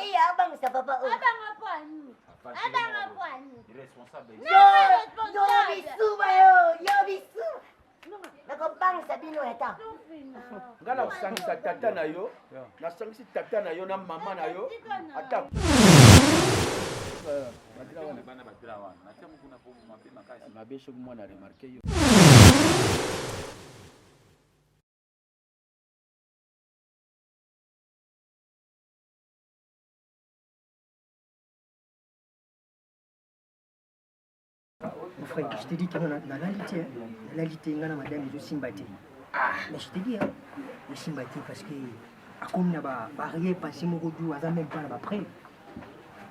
Eya abangisa papa oyo. Abanga po ani? Abanga po ani? Responsable. Yo yo bisuba yo, yo bisuba. Nakobangisa bino eta. Nga nakusangisa tata na yo, nasangisi tata na yo na mama na yo. Ata mabe soki mwana remarke yo Mon frère, je t'ai dit que na la lité, na la lité, na madame je simbati. Ah, mais je t'ai dit hein, je simbati parce que comme na ba barrière passé mon goût, aza même pas là après.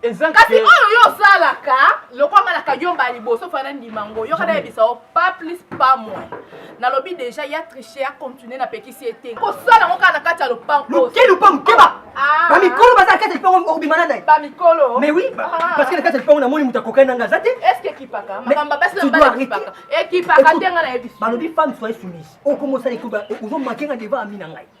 kasi oyo yo osalaka lokola nga na kadiomba ya liboso fana ndima ngo yoka nayebisa yo pas plus pas moins nalobi deja ya triche ya continue na pekisi ye te kosala yango kaka na kati ya lopangoke lopango keba ah. bamikolo baza na kati ya lipango obima na nai bamikolo mais oui ah. parce que na kati ya lipango namoni moto akokani na nga aza te est ce que ekipaka makambo basi na mbala ekipaka ekipaka te nga nayebisi balobi femme soye soumise okomosala ekoba ozomake nga deva ami na ngai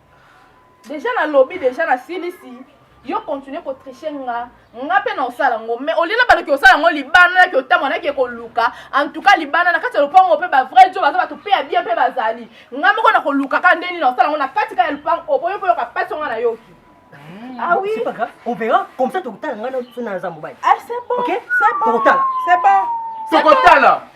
deja nalobi deja nasilisi yo continue kotriche nga nga mpe na osala yango mais olela baloki osala yango libanda naki otamwa naki ekoluka en tout cas libanda na kati ya lopango mpe bavrai jo baza bato mpe ya bien mpe bazali nga moko na kolukaka nde nini na osala yango na kati ka ya lopango oboyi mpe yoka mpasi onga nayoki hmm, Ah oui. C'est pas grave. On verra. Comme ça, tu as le temps. On a un zamboubaï. Ah, c'est bon. Ok. C'est bon. Tu as le temps. C'est bon. C'est bon.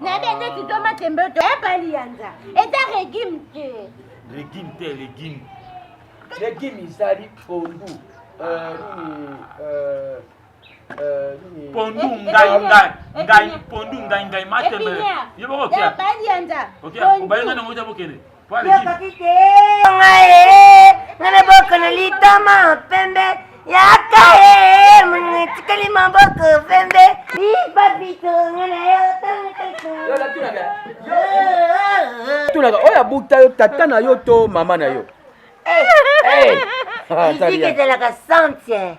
nayebi ete kido matembe oto ebali yanza eza regime te regime te regime regime ezali pondu euh, nini euh, euh, pondu ngai ngai ngai pondu ngai ngai matembe yo boko kia obali ngai nango eza bokende ngana boko na litama pembe yaka ye mwana tikali maboko pembe ibabito ngana yo tunaka oyo abukta yo tata na yo to mama na yo miziki ezalaka sante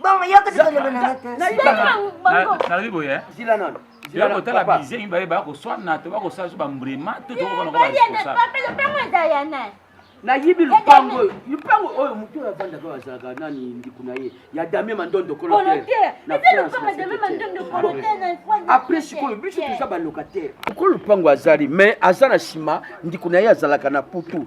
Bongo yo kati ko loba na nga te. Nalobi boye. Eh? Zila nani? Zila ko tala bize mi baye ba ko swana to ba ko sa ba mbrema to to ko na ko ba. Papelo pango eza ya nani? nayibi lupango oyo lupango oyo motu oyo avandaka oyo azalaka nani ndiko na ye ya dame mandondo koloteapres sikoyo biso toza balocataire oko lupango azali mais aza na nsima ndiko na ye azalaka na putu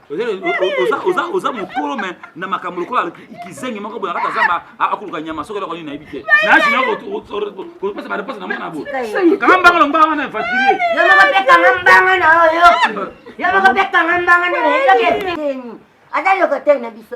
oza mokolo me na makambo lokola kizengi moko boye akata zamba akoluka nyama soki eloko nini nayebi te nayasinakopesa bareponse na mwana boye kanga mbanga lomba wana efatrie aza loko te na biso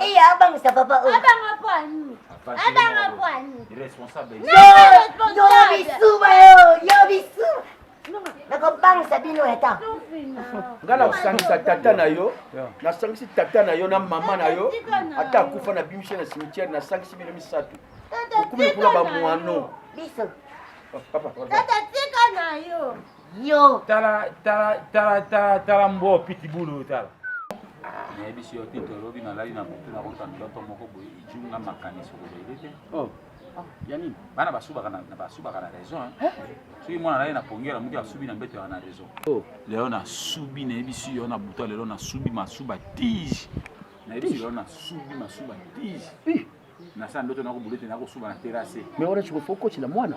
Eya abangisa papa oyo. Abanga po ani? Abanga po ani? Responsable. Yo yo bisuba yo yo bisuba. nakobangisa bino eta ngai nakosangisa tata na yo nasangisi tata na yo na mama na yo ata akufa na bimishe na cimetière nasangisi bino misato okumeli kuna bamwano biso papa tata tika na yo yo tala tala tala tala tala mbwa pitibulu oyo tala nayebisi yo te tolobi nalali na butu nakota ndoto moko boye ijunga makanisi okolele te oh. ah, ya nini bana basubaka na raison soki mwana naye na pongela moki asubi na mbeto yaka na raison oh. lelo nasubi nayebisi yo na buta lelo nasubi masuba tige nayebisi lelo nasubi masuba tige nasala ndoto nakobulo te nakosuba na terase me wana chikofo okotila mwana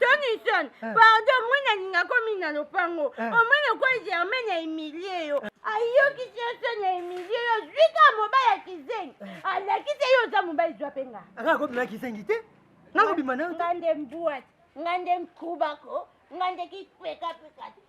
Tonison, eh. pardon, moi nalinga komi na lopango. Eh. Omoni okwa Germaine ya humilie yo. Eh. Ayokisi yo soni ya humilie yo. Zwi ka mobali ya kizengi. Alakisi ye oza mobali zwa mpe nga. Anga kobima na kizengi te. Nakobima na yo te. Nga nde mbuati, nga nde nkubako, nga nde kipekapeka te.